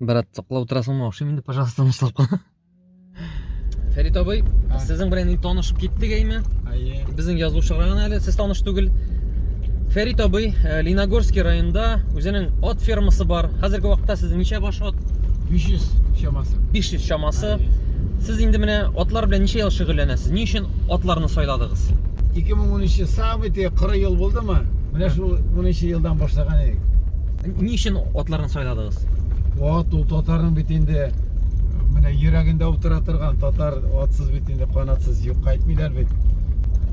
брат саклап отырасыңмы ошый инде пожалуйста тынычлап кына фәрит абый сезнең белән инде танышып киттек әйме әйе безнең язучыга гына әле сез таныш түгел фәрит абый э, леногорский районында үзенең ат фермасы бар хәзерге вакытта сезнең ничә баш ат 500 чамасы 500 чамасы сез инде менә атлар белән ничә ел шөгыльләнәсез ни өчен атларны сайладыгыз 2013 самый тиге 40 ел булдымы менә шул 13 елдан башлаган идек Ни өчен атларны сайладыгыз? Ат ул татарның бит инде менә йөрәгендә утыра торган татар атсыз бит инде канатсыз юк кайтмыйлар бит.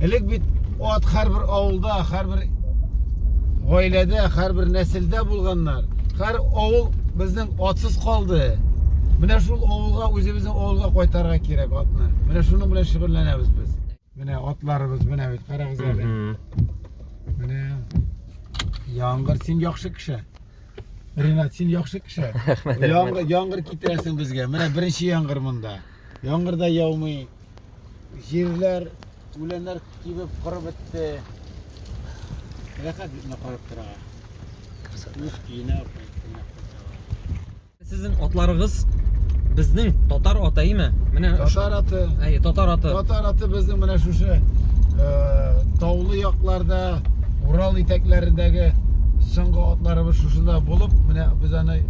Элек бит ат һәрбер авылда, һәрбер гаиләдә, һәрбер нәселдә булганнар. Һәр авыл безнең атсыз калды. Менә шул авылга, үзебезнең авылга кайтарга кирәк атны. Менә шуның белән шөгыльләнәбез без. Менә атларыбыз менә бит, карагыз әле. Менә Яңгыр, син яхшы кеше. Ренат, син яхшы кеше. Яңгыр, яңгыр китерәсең безгә. Менә беренче яңгыр монда. Яңгыр да яумый. Җирләр, үләннәр кибеп корып бетте. Рәхәт бит карап торырга. Үз көенә Сезнең атларыгыз безнең татар аты име? Менә татар аты. Әй, татар аты. Татар аты безнең менә шушы э, таулы якларда, Урал итәкләрендәге соңгы атларыбыз шушында булып, менә без аны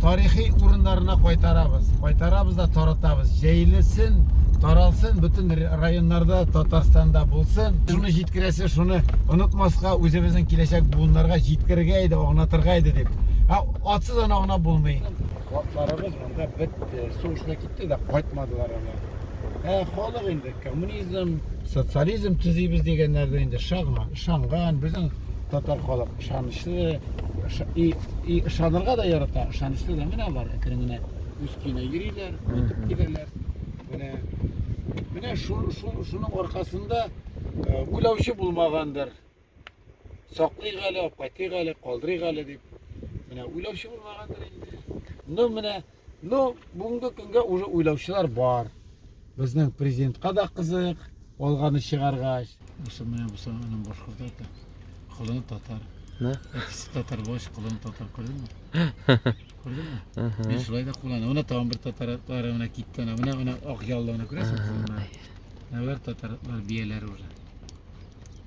тарихи урыннарына кайтарабыз. Кайтарабыз да таратабыз. Җәйлесен, таралсын, бөтен районнарда, Татарстанда булсын. Шуны җиткерәсе, шуны онытмаска, үзебезнең киләчәк буыннарга җиткергә иде, агнатырга иде дип. Атсыз ана гына булмый. Атларыбыз монда бетте, сугышына китте дә кайтмадылар алар. Ә халык инде коммунизм, социализм төзибез дигәннәрдә инде шагман, ышанган, безнең татар халык ышанычлы, и, и ышанырга да ярата, ышанычлы да менә алар әкрен генә үз көенә йөриләр, кайтып киләләр. Менә менә шуның аркасында уйлаучы булмагандыр. Саклыйк әле, апкайтыйк әле, калдырыйк әле дип. Менә уйлаучы булмагандыр инде. Ну, менә, ну, бүгенге көнгә уже уйлаучылар бар. Безнең президентка да кызык, алганы чыгаргач. Бусы менә бусы аның башкорт ата. Кылын татар. Да? Әтисе татар булгач, кылын татар күрдеңме? Күрдеңме? Ага. Мин шулай да кулланам. Менә тагын бер татар атлары менә китте. Менә менә менә ак яллыны күрәсең? Менә Алар татар атлар бияләр уже.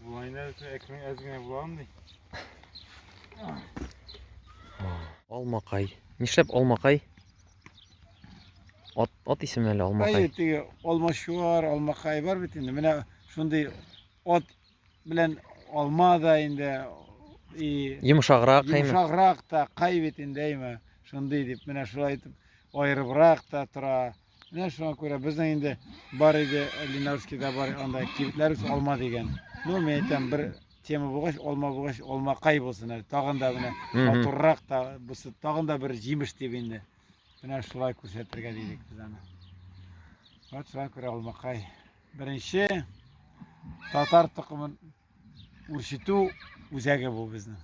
Булайна өчен әкрен әз генә була андый. Алмакай. Нишләп алмакай? Ат, ат исеме әле алмакай. Әйе, теге алмашуар, алмакай бар бит инде. Менә шундый ат белән алма да инде и йомшаграк кайме йомшаграк та кай бит инде әйме шундый дип менә шулай итеп аерыбрак та тора Менә шуңа күрә безнең инде бар иде, Ленарскийда бар анда кибетләр үз алма дигән. Ну, мин әйтәм, бер тема булгач, алма булгач, алма кай булсын әле. Тагын да менә Мгм. матуррак та бусы, тагын да бер җимеш дип инде. Менә шулай күрсәтергә дидек без аны. Вот шуңа күрә алмакай. Беренче татар токымын үрчетү үзәге бу безнең.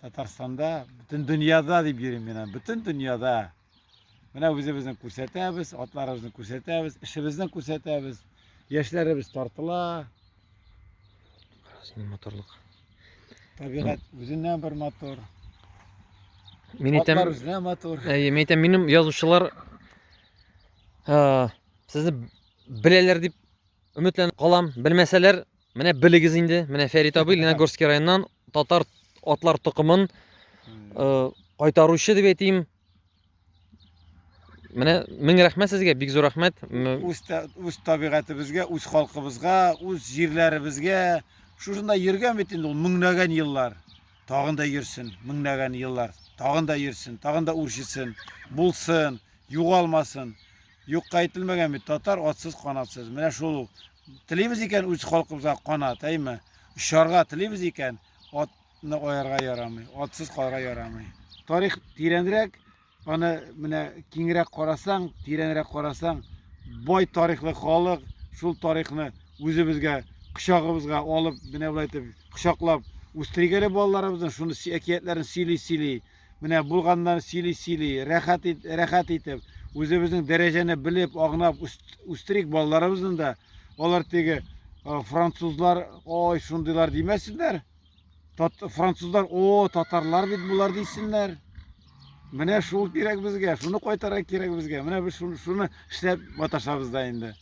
Татарстанда, бөтен дөньяда дип йөрим мин. аны. Бөтен дөньяда. Менә үзебезне күрсәтәбез, атларыбызны күрсәтәбез, эшебезне күрсәтәбез. Яшьләребез тартыла. Синең моторлык. Табигать үзеннән бер мотор. Мин әйтәм, Атлар үзенә мотор. әйе, мин әйтәм, минем язучылар а, сезне беләләр дип өметләнеп калам. Белмәсәләр, Менә белегез инде, менә Фәрит абый Леногорский районнан татар атлар токымын э, кайтаручы дип әйтим. Менә мең рәхмәт сезгә, бик зур рәхмәт. Үз үз табигатебезгә, үз халкыбызга, үз җирләребезгә шушында йөргән бит инде ул меңнәгән еллар. Тагын да йөрсен, меңнәгән еллар. Тагын да йөрсен, тагын да үрчетсен, булсын, югалмасын. Юкка әйтелмәгән бит, татар атсыз канатсыз. Менә шул ул. Телибез икән үз халкыбызга канат, әйме? Очарга телибез икән, атны аярга ярамый, атсыз калырга ярамый. Тарих тирәнрәк, аны менә киңрәк карасаң, тирәнрәк карасаң, бай тарихлы халык, шул тарихны үзебезгә, кочагыбызга алып, менә болай итеп, кочаклап үстерик әле балаларыбызны, шуны әкиятләрен сөйли-сөйли. Менә булганнар сөйли-сөйли, рәхәт, рәхәт итеп, үзебезнең дәрәҗәне белеп, агнап үстерик балаларыбызны да. Алар теге французлар, ой, шундыйлар димәсеннәр. Тат, французлар, о, татарлар бит булар дисеннәр. Менә шул кирәк безгә, шуны кайтара кирәк безгә. Менә без шуны, шуны эшләп маташабыз да инде.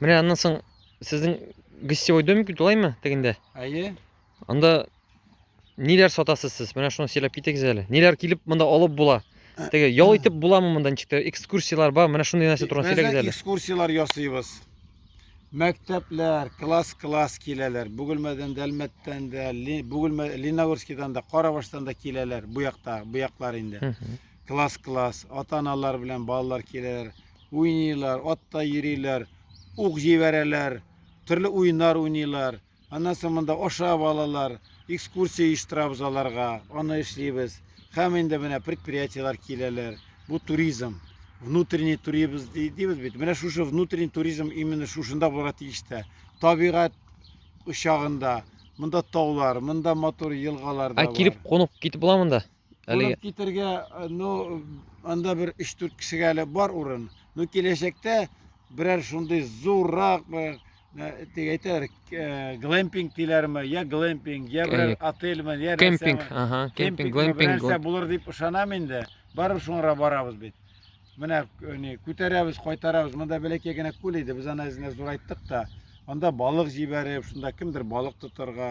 Менә аннан соң сезнең гостевой домик бит алаймы тегендә? Әйе. Анда ниләр сатасыз сез? Менә шуны сөйләп китегез әле. Ниләр килеп монда алып була? Теге ял итеп буламы монда ничек тә экскурсияләр бар? Менә шундый нәрсә турында сөйләгез әле. Экскурсияләр ясыйбыз. Мәктәпләр, класс-класс киләләр. Бүгелмәдән дә, Әлмәттән дә, Бүгелмә, Леногорскидан да, Карабаштан да киләләр. Бу якта, бу яклар инде. Класс-класс, ата-аналар белән балалар киләләр, уйныйлар, атта йөриләр, ук җибәрәләр, төрле уеннар уйныйлар. Аннан соң монда ашап алалар, экскурсия оештырабыз аларга, аны эшлибез. Һәм инде менә предприятиеләр киләләр. Бу туризм. Внутренний туризм дибез бит. Менә шушы внутренний туризм именно шушында булырга тиеш тә. Табигать очагында, монда таулар, монда матур елгалар да Ә бар. килеп кунып китеп була монда? Әлеге... Урып китергә, э, ну, анда бер 3-4 кешегә әле бар урын. Ну, киләчәктә берәр шундый зуррак бер тик әйтәләр глэмпинг диләрме я глэмпинг я бер отельме я кемпинг ага кемпинг глэмпинг нәрсә булыр дип ышанам инде барып шуңара барабыз бит менә не күтәрәбез кайтарабыз монда бәләкәй генә күл иде без аны әзенә зурайттык та анда балык җибәреп шунда кемдер балык тотарга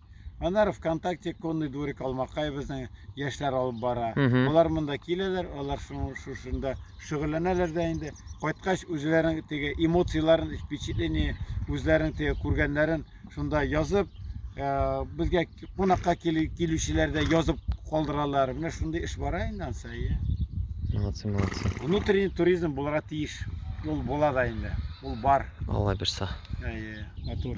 Аннары ВКонтакте конный дворик Алмакай безнең яшьләр алып бара. Мгм. Алар монда киләләр, алар шуның шушында шөгыльләнәләр дә инде. Кайткач үзләренең теге эмоцияләрен, впечатление, үзләренең теге күргәннәрен шунда язып, э, безгә кунакка килү- килүчеләр дә язып калдыралар. Менә шундый эш бара инде ансай. Молодцы, молодцы. Внутренний туризм булырга тиеш. Ул була да инде. Ул бар. Алла бирса. Әйе, матур.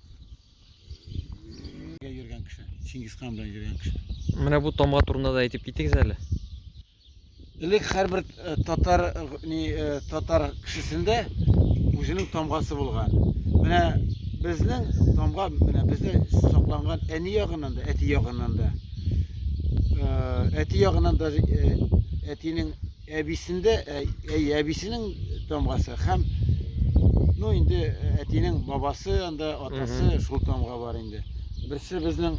Йөргән кеше, Чингисхан белән йөргән кеше. Менә бу тамга турында да әйтеп китегез әле. Элек һәрбер э, татар э, ни э, татар кешесендә үзенең тамгасы булган. Менә безнең тамга менә бездә сакланган әни ягыннан да, әти ягыннан да. Әти ягыннан да әтинең Әбисендә, әй, әбисенең тамгасы һәм ну инде әтинең бабасы анда атасы шул тамга бар инде. Берсе безнең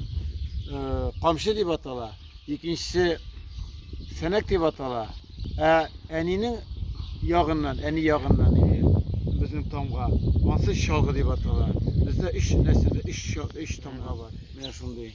камчы дип атала, икенчесе сәнәк дип атала. Ә әнинең ягыннан, әни ягыннан инде безнең тамга ансы чалгы дип атала. Бездә өч нәселдә өч өч тамга бар. Менә шундый.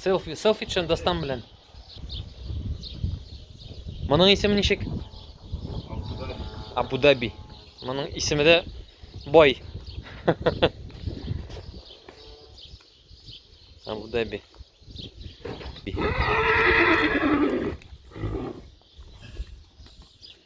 Селфи, селфи чын достан белән. Моның исеме ничек? Абу-Даби. Моның исеме дә бай. Абу-Даби.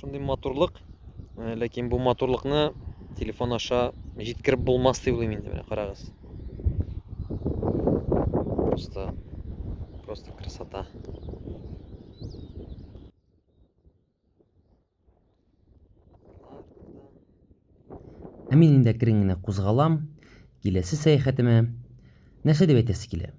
Шундый матурлык, э, ләкин бу матурлыкны телефон аша җиткереп булмас дип уйлыйм инде, менә карагыз. Просто просто красота. Ә мин инде әкрен генә кузгалам, киләсе сәяхәтемә. Нәрсә дип әйтәсе килә?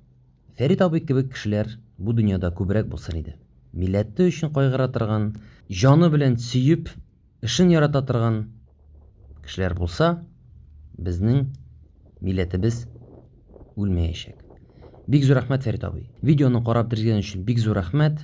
Фәрит абый кебек кешеләр бу дөньяда күбрәк булсын иде. Милләте өчен кайгыра торган, җаны белән сөеп, эшен ярата торган кешеләр булса, безнең милләтебез үлмәячәк. Бик зур рәхмәт, Фәрит абый. Видеоны карап тергезгән өчен бик зур рәхмәт.